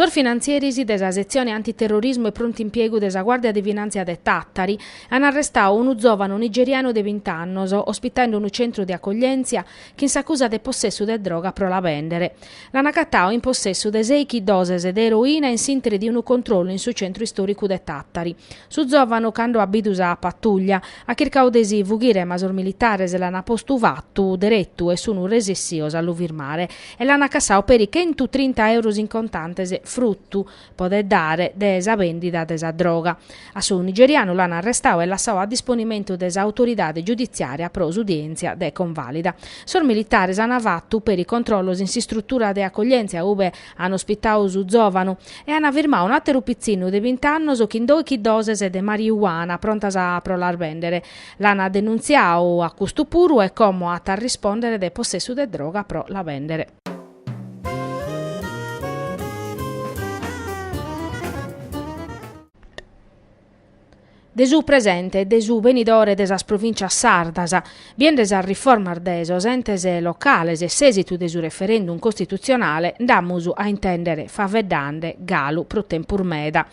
Sos finantzieris de sa setzione antiterrorismu e prontu impiegu de sa Guàrdia de Finàntzia de Tàtari an arrestadu unu zòvanu nigerianu de bint'annos, ospitadu in unu centru de acoglièntzia, chin s'acusa de possessu de droga pro la bèndere. L'an acatadu in possessu de sèighi doses de eroina in s'interi de unu controllu in su centru istoricu de Tàtari. Su zovanu cando at bidu sa patuglia at chircadu de si fughire ma sos militares l'an postu fatu deretu e sun resessios a lu firmare e l'an cassadu peri chentu trinta euros in contantes fruttu podet dare de sa bèndida de sa droga. A su nigerianu l'ant arrestadu e lassadu a disponimentu de s'autoridade giuditziària pro s'udièntzia de convàlida. Sos militares ant fatu peri controllos in s'istrutura de acoglièntzia ube ant ospitadu su zòvanu e ant firmadu un'àteru pitzinnu de bint'annos chin doighi doses de mariuana prontas pro las bèndere. L'ant denuntziadu a custu puru e como at a rispòndere de possessu de droga pro la bèndere. de su presente e de su benidore de sas Provìncias sardas, biende sas riformas de sos entes locales e s'èsitu de su referendum costitutzionale, nd'amus a intèndere faveddande galu pro tempus meda.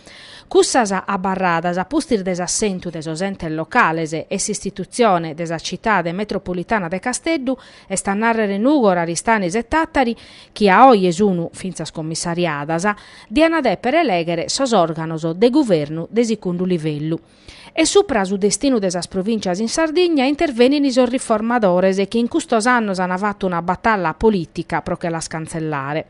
Cussas abarradas a pustis de s'assentu de sos entes locales e s'istitutzione de sa Citade Metropolitana de Casteddu Est a nàrrere Nugor, Aristanis e Tàtari, chi a oje sunu fintzas commissariadas, diana dèpere elèghere sos òrganos de guvernu de sigundu livellu. E supra a su destinu de sas provìncias in Sardigna intervenin sos riformadores chi in custos annos an fatu una batalla polìtica pro che las cantzellare.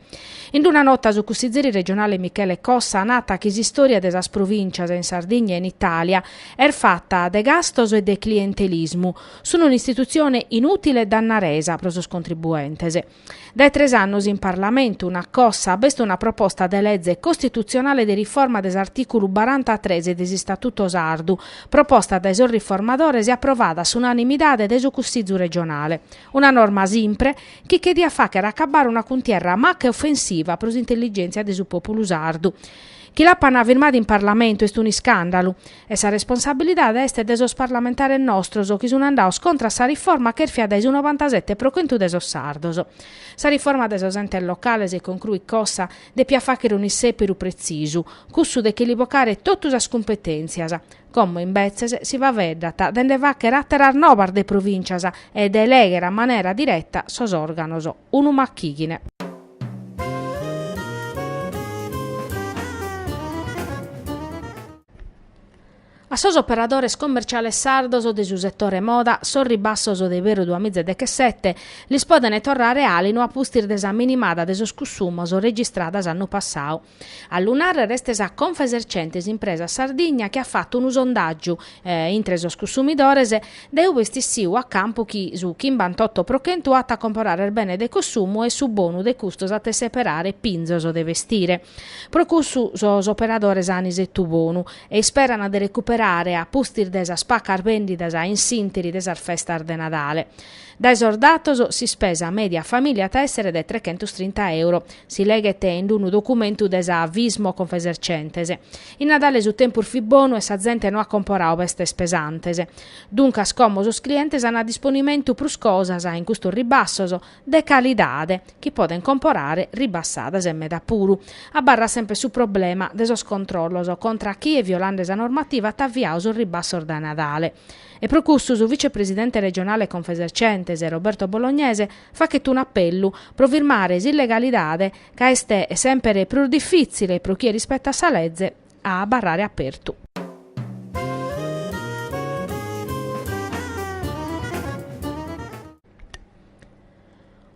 In una nota su cussizeri regionale Michele Cossa nat chi s'istòria de sas provìncias in Sardigna e in Itàlia est fata de gastos e de clientelismu, Sunt un'istitutzione inùtile e dannaresa pro sos contribuentes. Dae tres annos in Parlamentu, nat Cossa, b'est una proposta de leze costitutzionale de riforma de s'artìculu barantatres de s'Istatuto sardu, proposta dae sos riformadores e aprovada a s'unanimidade dae su Cussizu regionale. Una norma simpre, chi che diat fàghere acabbare una cuntierra maca e ofensiva pro s'intelligèntzia de su pòpulu sardu. Chi l'apant firmada in Parlamentu est un'iscàndalu. E sa responsabilidade est de sos parlamentares nostros chi sun andados contra a sa riforma chèrfia dae su novantasette pro chentu de sos sardos. Sa riforma de sos entes locales concruit Cossa depiat fagher un'issèpiru pretzisu, cussu de che li bocare totu sas cumpetèntzias, como imbetzes si faveddat de nde fagher àteras nobas de provìntzias e de elegher a manera direta sos òrganos. Unu machighine. A sos operadores commerciales sardos de su setore moda sos ribassos de iberru duamizadechesete lis podene torrare alinu a pustis de sa minimada de sos cussumos registrada s'annu passadu. A lu nàrrere est sa Confesercentes Impresas Sardigna chi at fatu unu sondàgiu intre sos cussumidores, dae ue est issiu a campu chi su chimbantotto pro chentu at a comporare benes de consumu e su bonu de custos at a seperare pinzos de bestire. Pro cussu sos operadores an isettu bonu e isperan de recuperare a pustis de sas pacas bèndidas in s'ìnteri de sas festas de Nadale. Dae sos datos, s'ispesa mèdia a famìlia at a èssere de trechentos trinta euro, Si leghet in d-unu documentu de sa Fismo Confesercentes. In Nadale su tempus fit bonu e sa zente no at comporadu bestes pesantes. Duncas como sos clientes ant a disponimentu prus cosas in custos ribassos, de calidade, chi podent comporare ribassadas e meda puru, abarrat semper su problema de sos controllos contra a chie, violende sa normativa, at aviadu sos ribassos dae Nadale. E pro cussu su vicepresidente regionale Confesercentes, Roberto Bolognese, faghet unu apellu pro firmare s'illegalidade ca est semper prus difìtzile pro chie rispetat sa leze a abarrare apertu.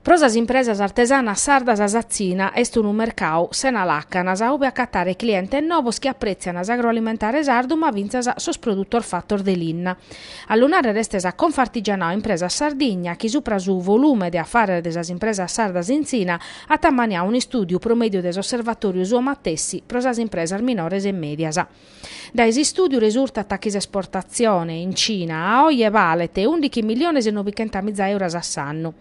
Pro sas impresas artesanas sardas sa Tzina est unu mercadu sena làcanas ue acatare clientes novos chi aprètziant s'agroalimentare sardu ma fintzas sos produtos fatos de linna. A lu nàrrere est sa Confartigianao Impresas Sardigna chi supra su volume de afares de sas impresas sardas in Tzina at ammaniadu un'istùdiu pro mèdiu de s'osservatòriu suo matessi pro sas impresas minores e mèdias. Dae s'istùdiu resurtat chi s'esportatzione in Cina a oje balet ùndighi miliones e nobichentamìza euros a s'annu.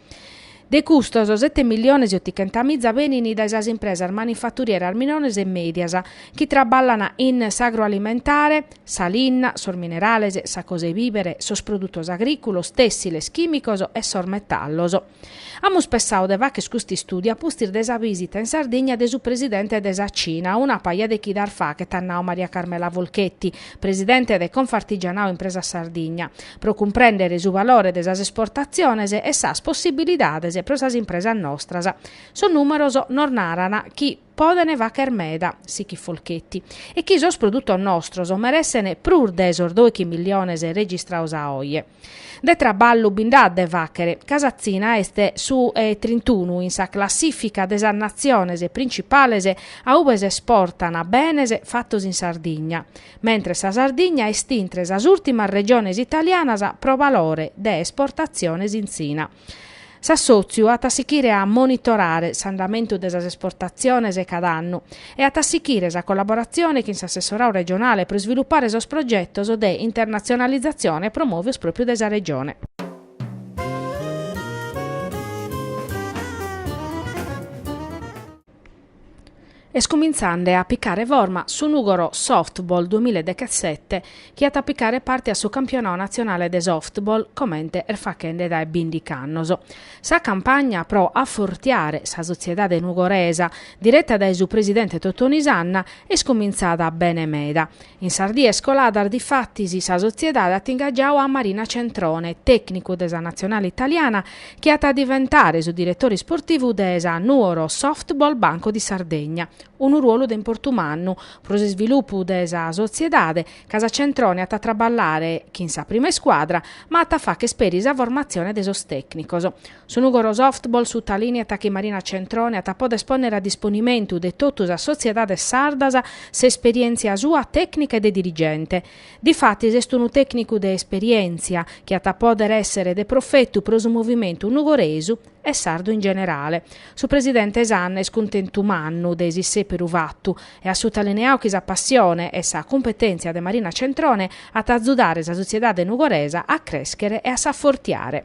De custos sete miliones e otichentamìza benint dae sas impresas manifaturieras minores e mèdias chi traballant in s'agroalimentare, sa linna, sos minerales, sa cosa 'e bìvere, sos produtos agrìculos, tèssiles, chìmicos e sos metallos. Amus pensadu de fagher custu istùdiu a pustis de sa vìsita in Sardigna de su presidente de sa Cina, una paja de chidas faghet, at nadu Maria Carmela Folchetti, presidente de Confartigianao Impresas Sardigna, pro cumprèndere su valore de sas esportatziones e sas possibilidades pro sas impresas nostras. Sos nùmeros nos naran chi. podene fagher meda sichit Folchetti e chi sos produttos nostros meressene prus de sos doichi miliones registrados a oje. De traballu bi nd'at de faghere ca sa Tzina est su 'e trintunu in sa classifica de sas natziones principales a ube s'esportan benes fattos in Sardigna, mentres sa Sardigna est intre sas ultimas regiones italianas pro balore de esportatziones in Tzina. S'assòtziu at a sighire a monitorare s'andamentu de sas esportatziones cada annu e at a sighire sa collaboratzione chin s'assessoradu regionale pro isvilupare sos progetos de internatzionalizatzione promòvios pròpiu dae sa Regione. Est cumintzende a picare forma su Nùgoro Softball duamilla e dechesete chi at a picare parte a su campionau natzionale de softball comente est faghende dae bìndiga annos. Sa campagna pro afortiare sa sotziedade nugoresa, direta dae su presidente Totoni Sanna, est cumintzada bene meda In sas dies coladas difatis sa sotziedade at ingagiadu a Marina Centrone, tècnicu de sa natzionale italiana, chi at a diventare su diretore isportivu de sa Nuoro Softball Banco di Sardegna. Unu ruolu de importu mannu pro s'isvilupu de sa sotziedade, ca sa Centrone at a traballare chin sa prima iscuadra, ma at a fagher peri sa formatzione de sos tècnicos. Su Nùgoro Softball sutalineat chi Marina Centrone at a poder pònere a disponimentu de totu sas sotziedades sardas s'esperièntzia sua tècnica e de dirigente. Difatis est unu tècnicu de esperièntzia chi at a pòdere èssere de profetu pro su movimentu nugoresu e sardu in generale. Su presidente Sanna est cuntentu mannu de s'issèperu fatu e at sutalineadu chi sa passione e sa cumpetèntzia de Marina Centrone at a azudare sa sotziedade nugoresa a crèschere e a s'afortiare.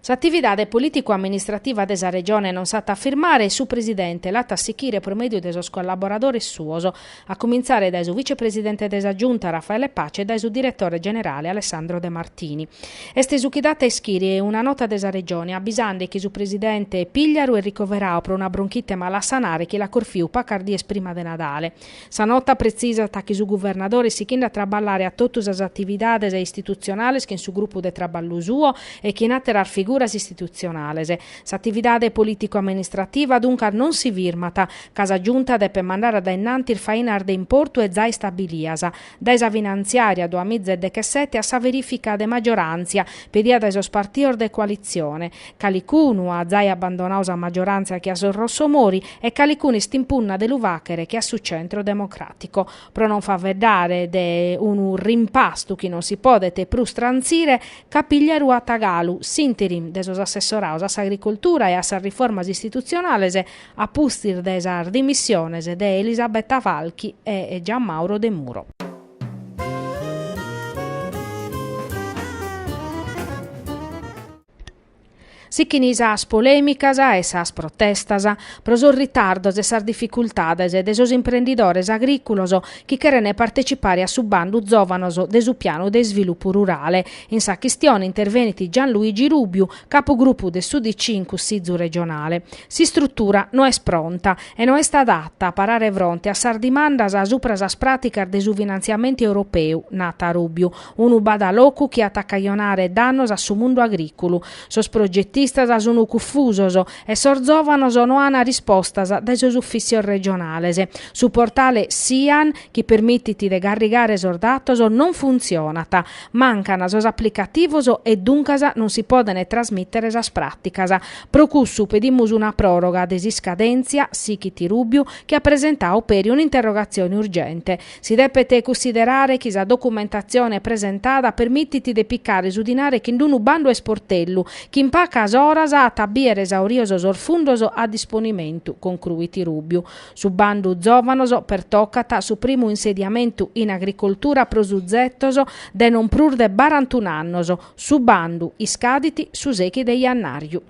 S'atividade polìticu-amministrativa de sa Regione non s'at a firmare su Presidente l'at a sichire pro mèdiu de sos collaboradores suos, a comintzare dae su Vicepresidente de sa Giunta Raffaele Paci e dae su Diretore Generale Alessandro De Martini. Est su chi dat a ischire una nota de sa Regione abisande chi su Presidente Pigliaru est ricoveradu pro una bronchite mala a sanare chi l'at corfiu pacas dies prima de Nadale, Sa nota pretzisat chi su guvernadore est sighinde a traballare a totu sas atividades istitutzionales chin su grupu de traballu suo e chin àteras figuras istitutzionales. S'atividade polìticu-amministrativa duncas non si firmat, ca sa Giunta depet mandare a dae in antis fainas de importu e zai istabilias, dae sa finantziària duamiza e dechesete a sa verìfica de maggioràntzia pedida dae sos partidos de coalitzione. Calicunu at zai abbandonadu sa maggioràntzia che a sos Rossomori e calicunu est in punna de lu fàghere che a su Centro Democratico. Pro non faeddare de unu rimpastu chi non si podet prus transire, ca Pigliaru at galu s'interim de sos assessorados a s'agricoltura e a sas riformas istitutzionales, a pustis de sas dimissiones de Elisabetta Falchi e Gianmauro Demuro. Sichin sas polèmicas e sas protestas pro sos ritardos e sas dificultades de sos imprendidores agrìculos chi cherent partetzipare a su bandu Zòvanos de su Pianu de Isvilupu Rurale. In sa chistione intervenit Gianluigi Rubiu, Capugrupu de s'UDC in Cussizu regionale. S'istrutura no est pronta e no est adata a parare fronte a sas dimandas subra sas pràticas de su finantziamentu europeu, nat Rubiu. Unu badalocu chi at a cajonare dannos a su mundu agrìculu. Sos progetistas sun cufusos e sos zòvanos no an rispostas dae sos ufìtzios regionales. Su portale Sian, chi permitit de carrigare sos datos, non funtzionat. Mancan sos aplicativos e duncas non si podent trasmìtere sas pràticas. Pro cussu pedimus una pròroga de s'iscadèntzia, sichit Rubiu, chi at presentadu peri un'interrogatzione urgente. Si depet cussiderare chi sa documentatzione presentada permitit de picare su dinare chin d-unu bandu a isportellu, chi in pacas oras at a bìere esaurios sos fundos a disponimentu, concruit Rubiu. Su bandu Zòvanos pertocat su primu insediamentu in agricoltura pro suzetos de non prus de barantun'annos. Su bandu iscadit su sechi de iannàriu.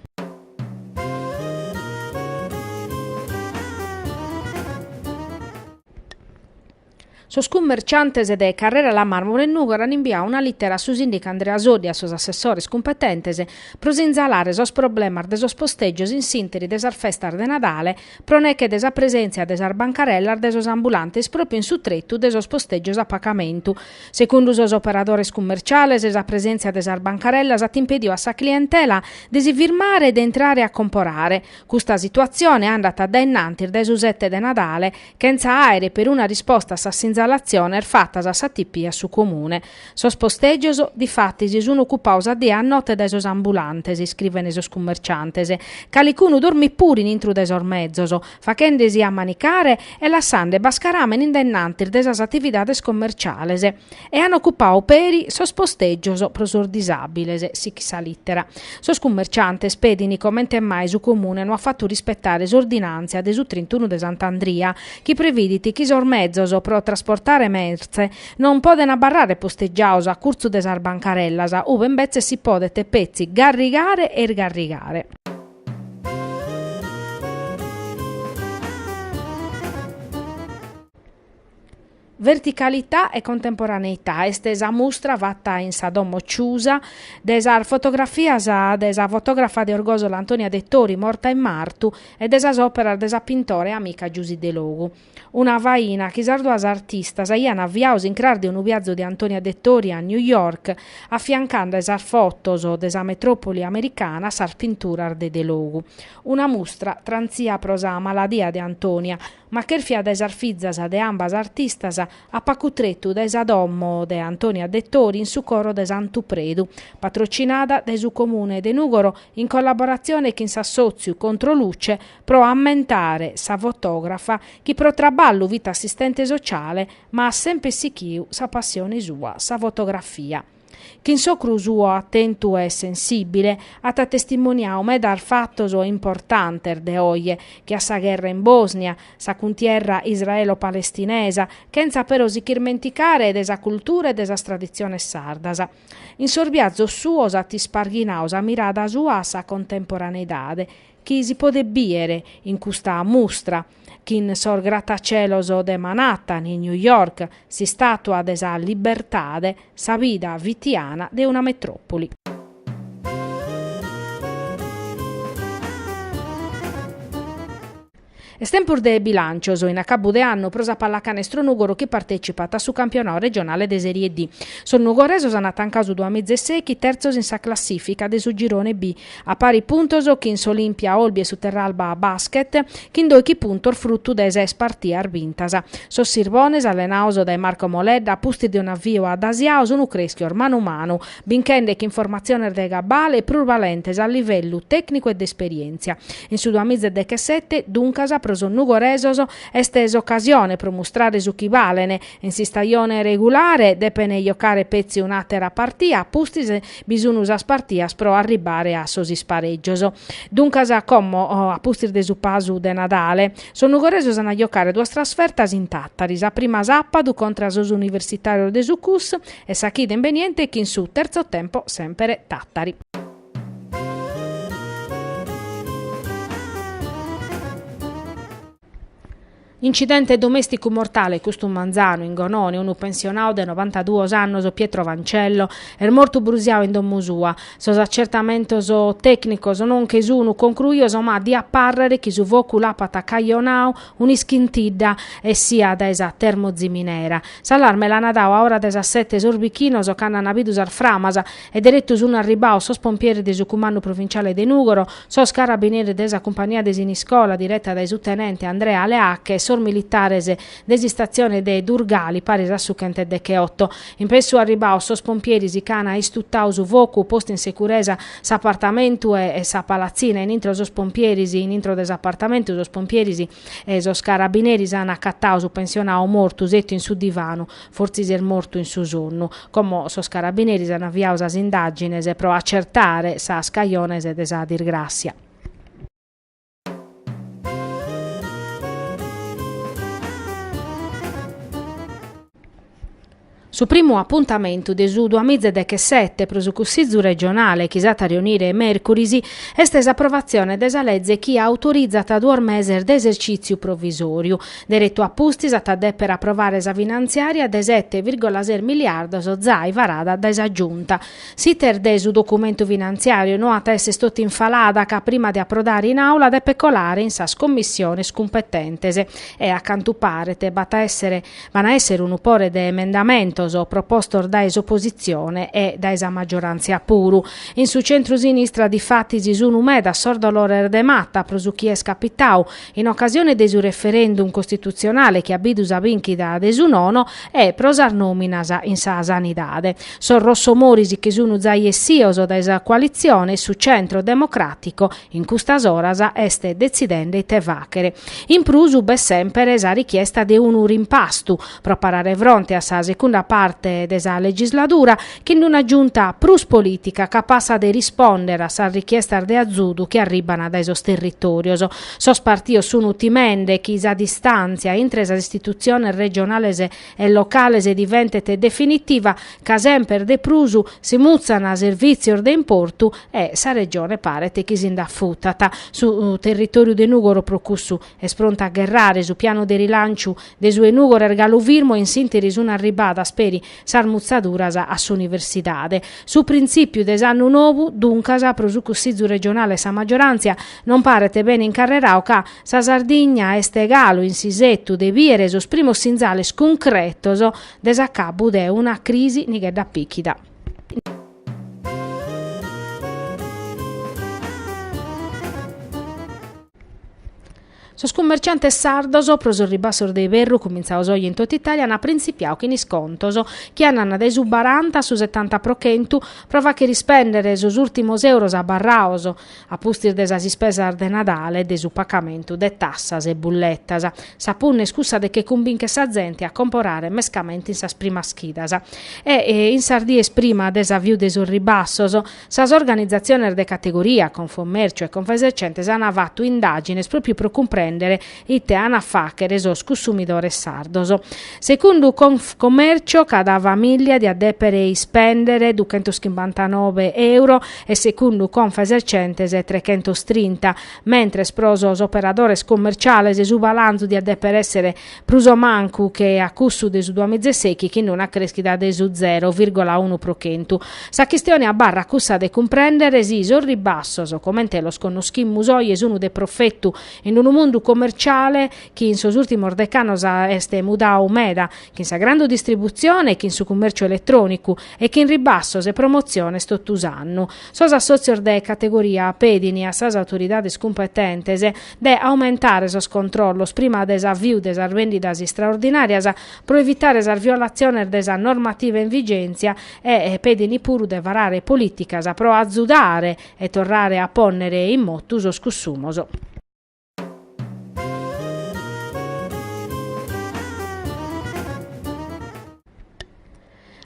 Sos cummerciantes de Carrera La Marmora in Nùgoro an imbiadu una lìtera a su sìndicu Andrea Soddu e a sos assessores cumpetentes pro sinzalare sos problemas de sos postègios in s'ìnteri de sas festas de Nadale pro neche de sa presèntzia de sas bancarellas de sos ambulantes pròpiu in su tretu de sos postègios a pagamentu. Segundu sos operadores cummerciales sa presèntzia de sas bancarellas at impedidu a sa clientela de si firmare e de intrare a comporare. Custa situatzione andat dae in antis dae su sete de Nadale chentza àere peruna risposta a sas sinzalatziones fatas a s'ATP e a su Comune. Sos postègios, difatis, sun ocupados a die e a note dae sos ambulantes, iscrivene sos cummerciantes, calicunu dormit puru in intro de sos mezos, fachende-si a manicare e lassande bascaràmene in denantis de sas atividades commerciales. e an ocupadu peri sos postègios pro sos disàbiles, sichit sa lìtera. Sos cummerciantes pedint comente mai su Comune no at fatu rispetare s'ordinàntzia de su trintunu de Sant'Andria, chi previdit chi sos mezos pro trasportare mertze non podent abarrare postegiados a curtzu de sas bancarellas, ube imbetzes si podent petzi garrigare e isgarrigare. Verticalità e contemporaneità est sa mustra fata in sa Domo Ciusa de sas fotografias de sa fotògrafa de Orgòsolo Antonia Dettori, morta in martu, e de sas òperas de sa pintora e amica Giusy Delogu. Una faina chi sas duas artistas aian aviadu s'incras de unu viazu de Antonia Dettori a New York, afiancande sas fotos de sa metròpoli americana a sas pinturas de Delogu. Una mustra trantzia pro sa maladia de Antonia, Ma chèrfia dae sas fizas de ambas artistas a pacu tretu dae sa domo de Antonia Dettori in su coro de Santu Predu, patrocinada dae su Comune de Nùgoro in collaboratzione chin s'assòtziu Controluce pro ammentare sa fotògrafa chi pro traballu fit assistente sociale ma at semper sighiu sa passione sua, sa fotografia. chin s'ocru suo atentu e sensìbile at testimoniadu medas fatos importantes de oje, che a sa gherra in Bòsnia, sa cuntierra israelo-palestinesa, chentza però si ch'irmenticare de sa cultura e de sas traditziones sardas. In sos biazos suos at isparghinadu sa mirada sua a sa contemporaneidade, chi si podet bìdere in custa mustra, chin sos gratacelos de Manhattan in New York, s'istàtua de sa libertade, sa vida fitiana de una metròpoli. Est tempus de bilàncios in acabu de annu pro sa pallacanestro Nùgoro chi partètzipat a su campionadu regionale de Serie D. Sos nugoresos ant tancadu su duamiza e sèichi terzos in sa classìfica de su girone B a pari puntos chin s'Olimpia Olbia e su Terralba Basket, chin dòichi puntos frutu de ses partias bintas. Sos Sirbones, allenados dae Marco Moledda, a pustis de un'avvio adasiadu sun creschios manu manu, binchende chin formatziones de gabbale e prus balentes a livellu tècnicu e de esperièntzia. In su duamiza e dechesete, duncas, pro sos nugoresos est s'ocasione pro mustrare su chi balen. In s'istajone regulare depent jocare petzi un'àtera partia a pustis, Bi sunu sas partias pro arribbare a sos isparègios. Duncas, como a pustis de su pasu de Nadale, sos nugoresos an a jocare duas trasfertas in Tàtari, sa prima sàpadu contra a sos universitàrios de su CUS e sa chida imbeniente chin su Terzo Tempo semper Tàtari. Incidente domèsticu mortale custu manzanu in Gonone, unu pensionau de 92 annos, Pietro Fancello, est mortu brusiau in domu sua. Sos acertamentos tècnicos non che sunu concruios ma diat pàrrere chi su focu l'apat cajonau un'ischintidda essia dae sa termoziminera. S'allarme l'ana dau a ora de sas sete sos bichinos cando ana bidu sas framas E deretu sun arribbados sos pompieris de su Cumandu Provinciale de Nùgoro, sos carabineris de sa cumpania de Siniscola direta dae su tenente Andrea Leacche e sos militares de s'istatzione de Durgali, paris a su chent'e decheoto. In pessu arribbados sos pompieris ch'ana istutadu su focu, postu in securesa s'apartamentu e sa palatzina, in intro sos pompieris in intro de s'apartamentu sos pompieris e sos carabineris ana acatadu su pensionadu mortu setu in su divanu, Fortzis est mortu in su sonnu. Como sos carabineris an aviadu sas indàgines pro acertare sas cajones de sa disgràssia. Su primu apuntamentu de su duamiza e dechesete pro su Cussizu regionale chi s'at a reunire mèrcuris est s'aprovatzione de sa leze chi autorizat duos meses de esercìtziu provisòriu. Deretu a pustis at a dèpere aprovare sa finantziària de sete vìrgola ses miliardos zai varada dae sa Giunta. S'iter de su documentu finantziàriu no at a esser totu in falada ca prima de aprodare in Àula depet colare in sas Commissiones cumpetentes e, a cantu paret, b'at a èssere b'an a èssere unu pore de emendamentos propostos dae s'opositzione e dae sa maggioràntzia puru. In su centru-sinistra difatis sunt medas sos dolores de mata pro su chi est capitadu in ocasione de su referendum costitutzionale chi at bidu sa bìnchida de su nono e pro sas nòminas in sa sanidade. Sos rossomoris chi sun zai essios dae sa coalitzione e su Centro Democratico in custas oras est detzidende ite fàghere. In prus b'est semper sa richiesta de unu rimpastu, pro parare fronte a sa segunda parte de sa legisladura chin una Giunta prus polìtica capassa de rispòndere a sas richiestas de azudu chi arribban dae sos territòrios. Sos partios sun timende chi sa distàntzia intre sas istitutziones regionales e locales diventet definitiva ca semper de prus si mutzan servìtzios de importu e sa Regione paret chi si nd'afutat. Su territòriu de Nùgoro pro cussu est prontu a gherrare. Su pianu de rilanciu de su 'e Nùgoro est galu firmu e in s'ìnteri sun arribbadas peri sas mutzaduras a s'Universidade. Su printzìpiu de s'annu nou, duncas, pro su Cussizu Regionale e sa Maggioràntzia non paret bene incarreradu ca sa Sardigna est galu in s'isetu de bìere sos primos sinzales cuncretos de s'acabbu de una crisi nighedda pìchida. Sos cummerciantes sardos, pro sos ribassos de iberru cumintzados oje in totu Itàlia, ant printzipiadu chin iscontos, chi andan dae su baranta a su setanta pro chentu, pro fàghere ispèndere sos ùrtimos euros abarrados, a pustis de sas ispesas de Nadale e de su pacamentu de tassas e bulletas. Sa punna est cussa de che cumbìnchere sa zente a comporare mescamente in sas primas chidas e in sas dies prima de s'aviu de sos ribassos, Sas organizatziones de categoria, Confcommercio e Confesercentes ant fatu indagines propriu pro cumprendere ite ant a faghere sos cussumidores sardos. Segundu Confcommercio cada famiglia diat depere ispendere duchentoschimbantanove euro e segundu Confesercentes trechentostrinta, mentres pro sos operadores commerciales su balanzu diat depere essere prus o mancu che a cussu de su duamizesèichi chin una crèschida de su zero vìrgola unu pro chentu. Sa chistione abarrat cussa de cumprèndere si sos ribassos, comente los connoschimus oje sun de profetu in unu mundu comerciale chi in sos ùrtimos decannos est mudadu meda, chin sa grande distributzione e chin su cummèrciu eletrònicu, e chin ribassos e promotziones totu s'annu. Sos assòtzios de categoria pedin a sas autoridades cumpetentes, de aumentare sos controllos prima de s'aviu de sas vèndidas istraordinàrias pro evitare sas violatziones de sa normativa in vigèntzia e pedin puru de varare polìticas pro azudare e torrare a pònnere in motu sos cussumos.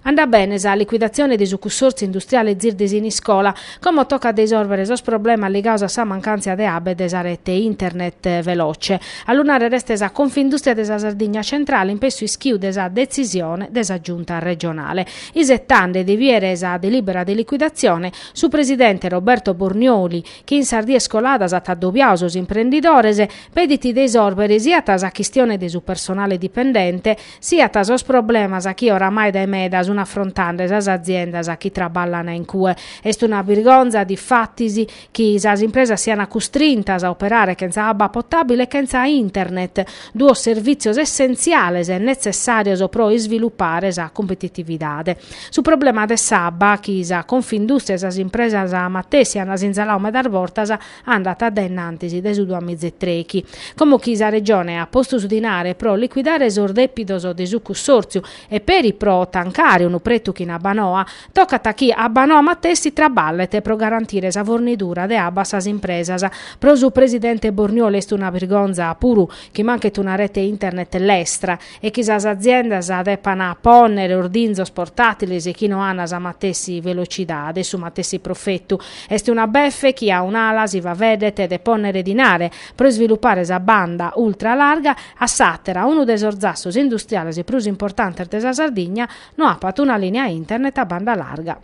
Andat bene sa liquidatzione de su cussòrtziu industriale ZIR de Siniscola, como tocat de isòrbere sos problemas ligados a sa mancàntzia de abba e de sa rete internet veloce. A lu nàrrere est sa Confindùstria de sa Sardigna Centrale in pessu ischiu de sa detzisione de sa Giunta regionale. Isetande de biere sa delìbera de liquidatzione, su presidente Roberto Bornioli, chi in sas dies coladas at adobiadu sos imprendidores, pedit de isòrbere siat sa chistione de su personale dipendente, siat sos problemas chi oramai dae meda sun afrontande sas aziendas chi traballan in cue. Est una birgonza, difatis, chi sas impresas sian custrintas a operare chentza abba potabile e chentza internet, duos servìtzios essentziales e netzessàrios pro isvilupare sa competitividade. Su problema de s'abba, chi sa Confindùstria e sas impresas matessi ant sinzaladu medas bortas, andat a dae innantis de su duamizetrèichi, como chi sa Regione at postu su dinare pro liquidare sos depidos de su cussòrtziu e peri pro tancare unu pretu chin Abbanoa, tocat chi Abbanoa matessi traballet pro garantire sa fornidura de abba a sas impresas. Pro su presidente Bornioli est una birgonza puru chi manchet una rete internet lestra. e chi sas aziendas depant pònnere ordinzos portàtiles chi no ant sa matessi velocidade, su matessi profetu. Est una befe chi a un'ala si faeddet de pònnere dinare pro isvilupare sa banda ultra larga, a s'àtera, unu de sos zassos industriales prus importantes de sa Sardigna, no apat una lìnia internet a banda larga.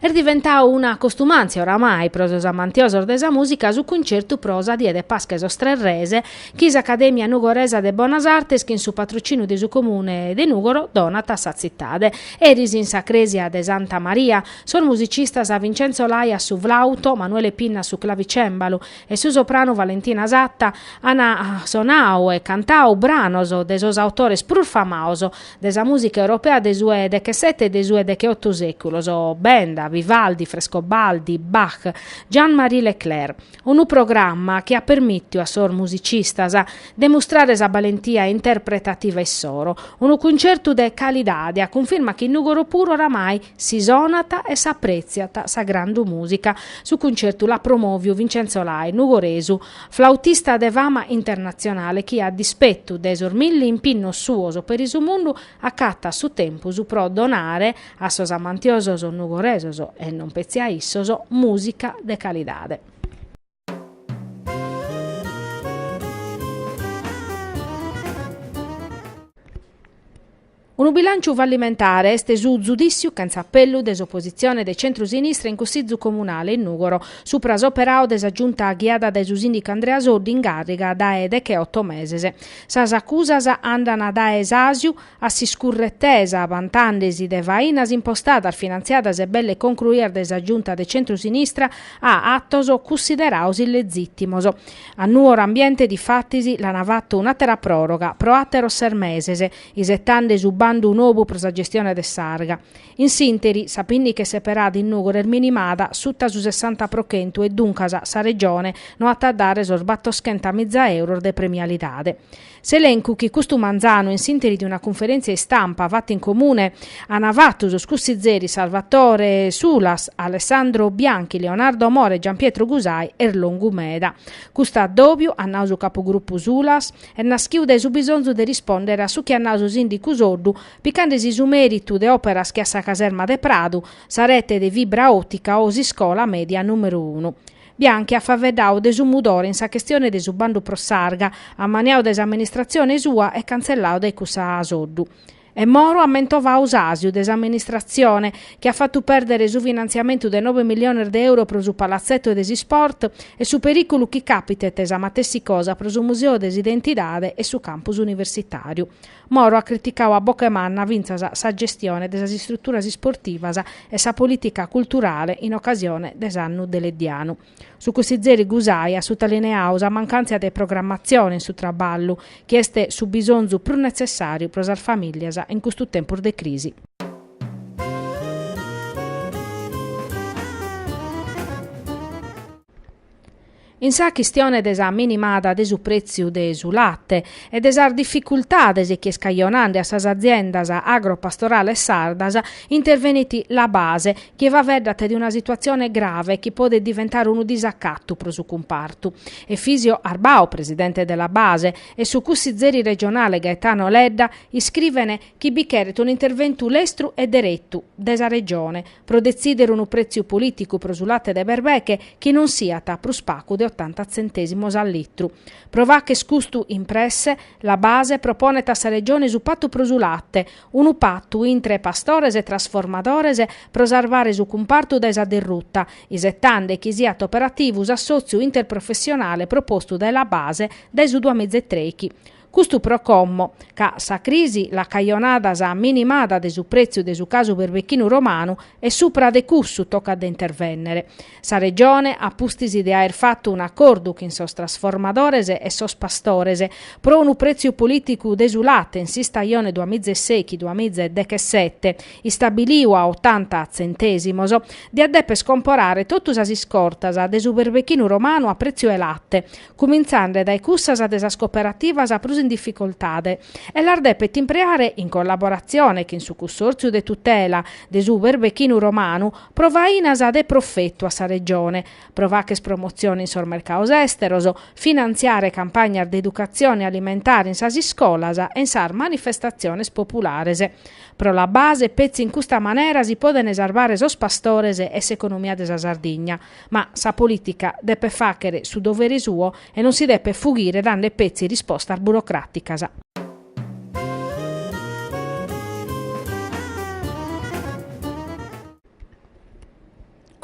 Est diventau una costumàntzia oramai pro sos amantiosos de sa mùsica su cuncertu pro sa die de Pasca 'e sos Tres Res chi s'Acadèmia Nugoresa de Bonas Artes chin su patrocìniu de su Comune de Nùgoro donat a sa tzitade. Eris in sa crèsia de Santa Maria, sos musicistas Vincenzo Lai a su flauto, Manuele Pinna a su clavicèmbalu, e su sopranu Valentina Satta an sonau e cantau branos de sos autores prus famaos de sa mùsica europea de su 'e dechesete e de su 'e decheotu sèculos, Benda, Vivaldi, Frescobaldi, Bach, Jean-Marie Leclair. Unu programma chi at permìtiu a sos musicistas de mustrare sa balentia interpretativa issoro. Unu cuncertu de calidade, a cunfirma chi in Nùgoro puru oramai Si sonat e s'aprètziat sa grande mùsica. Su cuncertu l'at promòviu Vincenzo Lai, nugoresu, flautista de fama internatzionale chi a dispetu de sos milli impinnos suos peri su mundu acatat su tempus pro donare a sos amantiosos nugoresos, e non petzi a issos, mùsica de calidade. Unu bilànciu fallimentare est su zudìssiu chentza apellu de s'opositzione de centru-sinistra in Cussizu Comunale in Nùgoro supra s'operau de sa Giunta ghiada dae su sìndicu Andrea Soddu in càrriga dae decheoto meses. Sas acusas andana dae s'àsiu, A s'iscurretesa, bantandesi de fainas impostadas, finantziadas e belle concruias dae sa Giunta de centru-sinistra, a atos cunsideraos illezìtimos. A Nuoro Ambiente, difatis, l'ana fatu un'àtera pròroga, pro àteros ses meses, isetande su bandu nobu pro sa gestione de s'arga. In s'ìnteri, sa pinniche seperada in Nùgoro est minimada suta su sessanta pro chentu e duncas sa Regione no at a dare sos battoschenta miza euros de premialidade. S'elencu chi custu manzanu in s'ìnteri de una cunferèntzia istampa fata in comune ana fatu sos cussizeris Salvatore Sulas, Alessandro Bianchi, Leonardo Moro e Gianpietro Gusai est longu meda. Custu addòbiu, at nau su capugrupu Sulas, est naschiu dae su bisonzu de rispòndere a su chi at nau su sìndicu Soddu picandesi su mèritu de òperas che a sa caserma de Pradu, sa rete de fibra òtica o s'iscola mèdia nùmeru unu. Bianchi at faveddadu de su mudore in sa chestione de su bandu pro Sarga, ammaniadu dae s'amministratzione sua e cantzelladu dae cussa asoddu. E Moro at mentovadu s'àsiu de s'amministratzione, chi at fatu pèrdere su finantziamentu de nobe milliones de euros pro su palatzeto de s'isport e su perìculu chi càpitet sa matessi cosa pro su museo de s'identidade e su campus universitàriu. Moro at criticadu a boca 'e manna fintzas sa gestione de sas istruturas isportivas e sa polìtica culturale in ocasione de s'annu deleddianu. Su cussizeri Gusai at sutalineadu sa mancàntzia de programmatzione in su traballu, chi est su bisonzu prus netzessàriu pro sas famìllias in custu tempus de crisi. In sa chistione de sa minimada de su prètziu de su late e de sas dificultades chi est cajonande a sas aziendas agropastorales sardas intervenit La Base, chi faeddat de una situatzione grave chi podet diventare unu disacatu pro su cumpartu. Efisio Arbau, presidente de La Base, e su cussizeri regionale Gaetano Ledda iscrivene chi bi cheret un'interventu lestru e deretu de sa Regione, pro detzìdere unu prètziu polìticu pro su late de berbeche chi non siat prus pagu de otanta tzentèsimos a litru. Pro fagher custu impresse, La Base proponet a sa Regione su patu pro su late, unu patu intre pastores e trasformadores pro sarvare su cumpartu dae sa derruta, isetende chi siat operativu s'assòtziu interprofessionale propostu dae La Base dae su duamiza e trèighi. Custu pro como, ca sa crisi l'at cajonada sa minimada de su prètziu de su casu berbechinu romanu e supra de cussu tocat de intervènnere. Sa Regione, a pustis de aer fatu un'acordu chin sos trasformadores e sos pastores pro unu prètziu polìticu de su late in s'istajone duamiza e sèichi duamiza e dechesete, istabiliu a otanta tzentèsimos, diat dèper comporare totu sas iscortas de su berbechinu romanu a prètziu 'e late, cumintzande dae cussas de sas cooperativas prus in dificoltade, e las depet impreare in collaboratzione chin su Cussòrtziu de tutela de su berbechinu romanu pro fainas de profetu a sa Regione, pro fagher promotzione in sos mercados èsteros, finantziare campagnas de educatzione alimentare in sas iscolas e in sas manifestatziones populares. Pro La Base, petzi in custa manera si podent sarvare sos pastores e s'economia de sa Sardigna. Ma sa polìtica depet fàghere su dovere suo e non si depet fughire dande petzi rispostas burocràticas.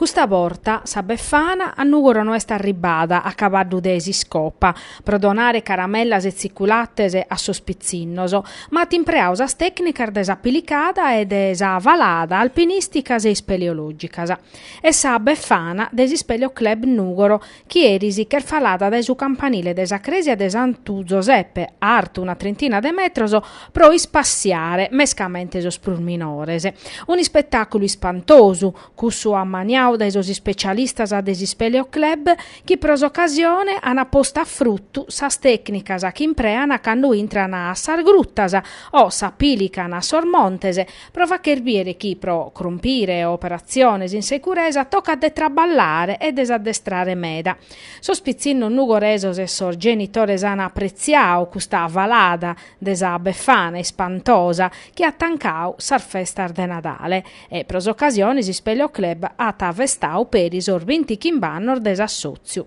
Custa borta sa Befana a Nùgoro no est arribbada a cabaddu de s'iscopa pro donare caramellas e tziculates a sos pitzinnos, ma at impreadu sas tècnicas de sa pilicada e de sa falada alpinìsticas e ispeleològicas. e sa Befana de s'Ispèleo Club Nùgoro chi eris ch'est falada dae su campanile de sa crèsia de Santu Zoseppe, artu una trintina de metros, pro ispassiare mescamente sos prus minores. Un'ispetàculu ispantosu, cussu ammaniadu dae sos ispecialistas de s'Ispèleo Club chi pro s'ocasione ant postas a frutu sas tècnicas chi impreant cando intrant a sas grutas o s'apìlicant a sos montes Pro facher bìdere chi pro crompire operatziones in securesa tocat de traballare e de s'addestrare meda. Sos pitzinnos nugoresos e sos genitores an apretziadu custa falada de sa Befana ispantosa chi at tancadu sas festas de Nadale e pro s'ocasione s'Ispèleo Club at festadu peri sos bintichimb'annos de s'assòtziu.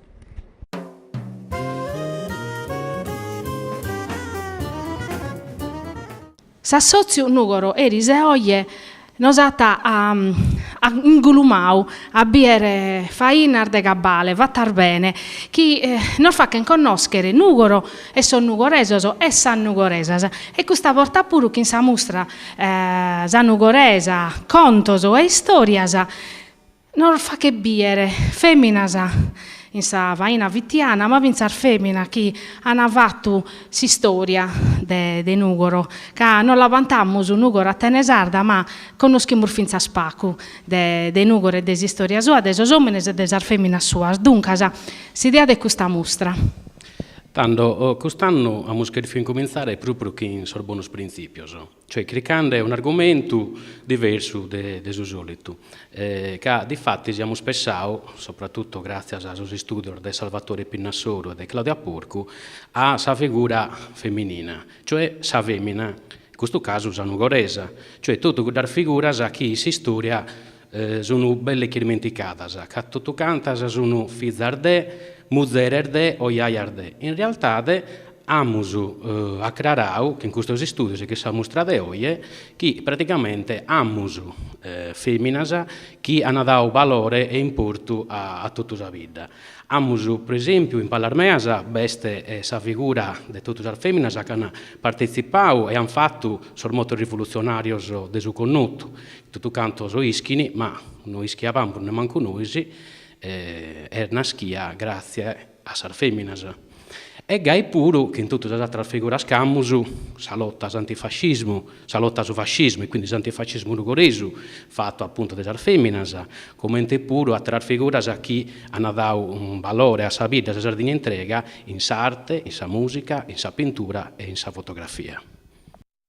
S'assòtziu Nùgoro eris e oje nos at ingulumadu a bìdere fainas de cabale fatas bene chi nos fachent connòschere Nùgoro e sos nugoresos e sas nugoresas e custa borta puru chin sa mustra Sa Nugoresa, contos e istòrias, Nos faghet bìdere fèminas in sa faina fitiana, ma fintzas fèminas chi an fatu s'istòria de Nùgoro, ca nos la bantamus Nùgoro Atene sarda, ma connoschimus fintzas pagu de de Nùgoro e de s'istòria sua, de sos òmines e de sas fèminas suas. Duncas, s'idea de custa mustra. Tando, cust'annu amus chèrfiu incumintzare pròpriu chin sos bonos printzìpios. Cioè chircande un'argumentu diversu de su sòlitu, ca difatis amus pessau, sopratutu gràtzias a sos istùdios de Salvatore Pinna Soru e de Claudia Porcu, a sa figura feminina, cioè sa fèmina, in custu casu sa nugoresa, cioè totu cuddas figuras chi s'istòria Sunu belle chi dimenticadas, ca totu cantas sunu fizas de, muzeres de o jaias de. In realtade amus acrarau chin custos istudios e chin sa mustra de oje chi praticamente amus feminas chi ana dau balore e importu a totu sa bidda. Amus pro esempiu in palas meas b'est sa figura de totu sas feminas chi ana partetzipau e an fatu sos motos rivolutzionarios de Su Connotu, Totu cantos ischin, ma no ischiabamus nemancu nois, est naschia gràtzie a sas fèminas. E gai puru chi in totu sas atras figuras chi amus, sa lota a s'antifascismu, sa lota a su fascismu e quindi s'antifascismu nugoresu, fatu apuntu de sas fèminas, comente puru atras figuras chi an dadu unu balore a sa bidda e a sa Sardigna intrega in s'arte, in sa mùsica, in sa pintura e in sa fotografia.